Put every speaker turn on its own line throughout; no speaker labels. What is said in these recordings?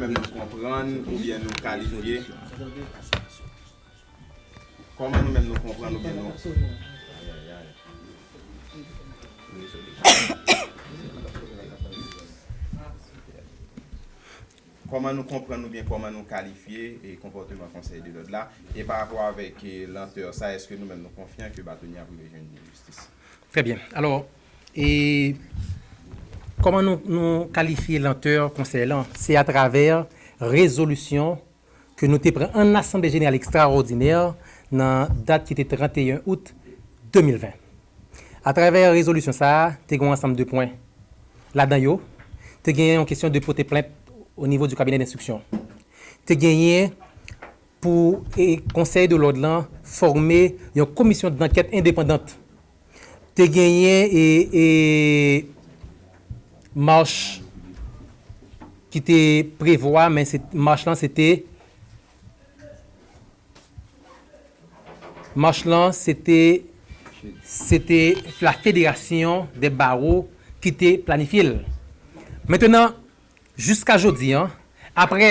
Nou konprann oubyen nou kalifye? Kòman nou menm nou konprann oubyen nou Kòman nou konprann oubyen kòman nou kalifye konpòteman konsèy de lòd la? E pa rapò avèk lantè sa, èske nou menm nou konfyan ke Batonye ap rive jwenn jistis? Trè byen. Alò.
E kòman nou kalifye lantè Konsèy lan? Se atravè rezolisyon ke nou te pran ann Asanble Jeneral Ekstraòdinè nan dat ki te 31 out 2020. Atravè rezolisyon sa a, te gen yon ansanm de pwen. Ladan yo, te genyen yon kesyon de pote plent onivo di kabinè denstriksyon. Te genyen pou Konsèy de lòd lan fòme yon komisyon dankèt endepandant te genyen mach ki te prevwa men mach lan se te mach lan se te se te la federasyon dè baro ki te planifye l mentenan jiska jodi an apre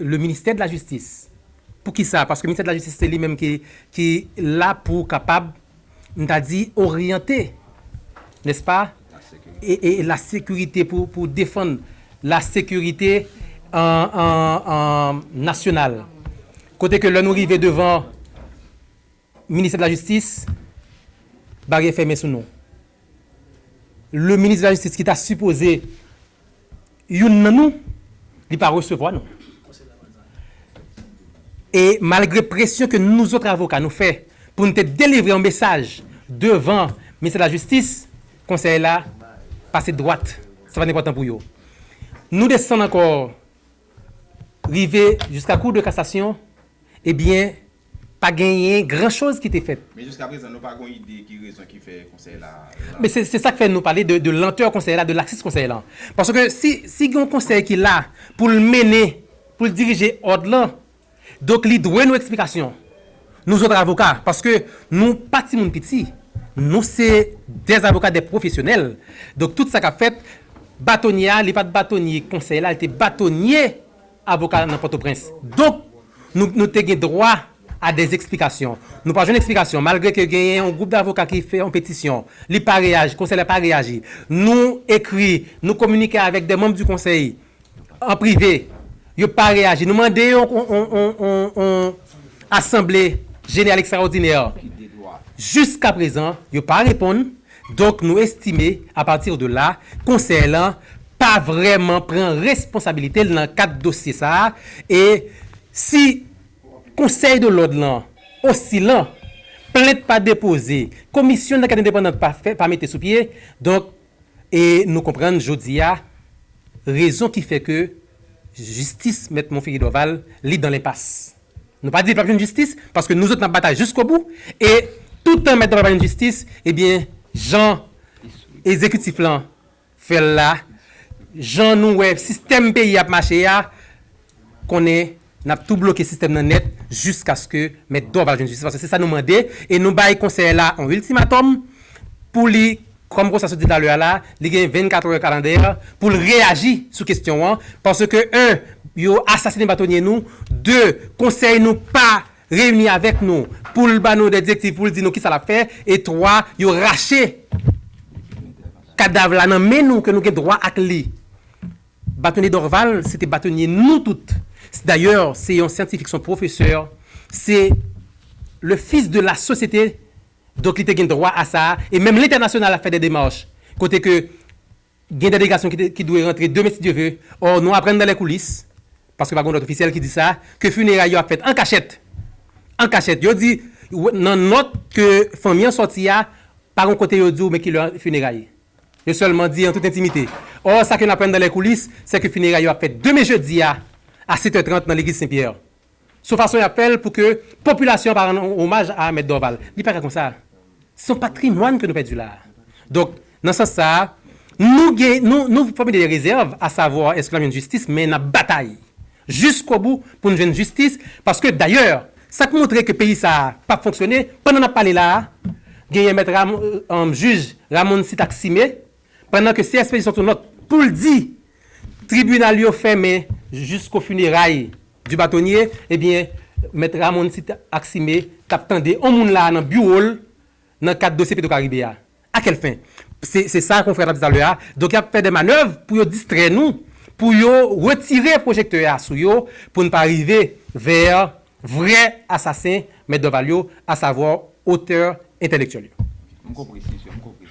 Le ministère de la justice pou kisa paske ministère de la justice se li menm ki ki la pou kapab m ta di oryante nè s pa e e la sekirite pou pou defann la sekirite an an an nasyonal kote ke lè nou rive devan Ministè de la Justice baryè fèmen sou nou. Le Ministre de la Justice ki ta sipoze youn nan nou, li pa resevwa nou. E malgre presyon ke nouzot avoka nou fè pou nou te delivre yon mesaj devan Ministè de la Justice, Konsèy la pase dwat, se pa enpòtan pou yo. Nou desann ankò rive jiska Cour de Cassation, ebyen Pa genyen gran choz ki te fèt. Men jiska prezan nou pa gon
ide ki rezon ki fè konsèy la la. Men se sak fè
nou pale de lantè konsèy la, de laksis konsèy la. Paske si si gen yon konsèy ki la pou l mennen, pou l dirije òd lan, donk li dwe nou eksplikasyon. Nou zòt avoka, paske nou pa timoun piti, nou se dè avoka, dè pwofesyonèl. Donk tout sa k ap fèt, batonye a li pa t batonye konsèy la, li te batonye. avoka nan Pòtoprens. Donk, nou nou te gen dwa a dè eksplikasyon. Nou pa jwenn eksplikasyon. Malgre ke genyen yon gwoup davoka ki fè yon petisyon, li pa reyaji, konsèy la pa reyaji. Nou ekri, nou kominike avèk dè manm di konsèy an prive, yo pa reyaji. Nou mande yon yon asanble jeneral ekstraòdinè jiskaprezan, yo pa reponn. Donk nou estime, a partir de là, Konsèy lan pa vrèman pran responsabilite l nan kad dosye sa a e si Konsèy de lòd lan osilan, plent pa depoze, komisyon dankèt endepandant pa fè, pa mete sou pye, donk e nou konprann jodi a rezon ki fè ke jistis Mèt Monferry Dorval li dan lenpas. Nou pa di li pap jwenn jistis paske nou zot nap batay jiskobou e tout tan mèt dam nan pa jwenn jistis ebyen jan ezekitif lan fèl la jan nou wè sistèm peyi ap mache a konnen nap tou bloke sistèm nan nèt jiskaske mèt Dorval jwenn jistis paske se sa nou mande e nou bay konsèy la on iltimatòm pou li Kòm konsa sot di talè a la, li gen 24 heures calendaire pou l reyaji sou kestyon an, paske 1 yo asasine batonye nou, 2 konsèy nou pa reyini avèk nou pou l ba nou dè direktiv pou l di nou kisa l ap fè e 3 yo rache kadav la nan men nou ke nou gen dwa ak li. Batonye Dorval se te batonye nou tout. Dayè se yon syantifik, se yon pwofesè, se le fils de la sosyete. Donk li te gen dwa a sa a e menm lentènasyonal ap fè dè demach kote ke gen dèlegasyon ki te ki dwe rantre demen si Dye ve or nou aprann dan lè koulis paske pa gen yon nòt ofisyèl ki di sa ke fineray yo ap fèt an kachèt an kachèt yo di nan nòt ke fanmi an sòti a pa gen yon kote yo di w men ki lè fineray yo sèlman di an tout entimite or sa ke n aprann dan lè koulis se ke fineray yo ap fèt demen jedi a a 7 è 30 nan legliz sen Pierre. Son fason yap fèl pou ke popilasyon an pa rann omaj a Mèt Dorval. Li paka konsa. Son patrimwàn ke nou pèdi la. Donk, nan sans sa a, nou gen, nou, nou fòmile de rezèv a savwa èske lap jwenn jistis men nap batay jiskobou poun jwenn jistis paske dayè sak montre ke peyi sa a pap fonksyone, pandan nap pale la a genyen mèt Ram, Jij Ramon Sitaksime Pandan ke CSPJ sòti yon nòt pou l di tribinal yo fèmen jisko funeray du bâtonnier, ebyen Mèt Ramon Cite Accimé t ap tande yon moun la a nan biwo l nan kad dosye Petro Caribe a. A quelle fin? Se sa konfrè a t ap di talè a, donk y ap fè dè manèv pou yo distrè nou, pou yo retire pwojektè a sou yo pou n pa rive vè vrè asasen Mèt Dorval yo, asavwa otè entèlektyèl yo. M konpre, si sè, m konpre.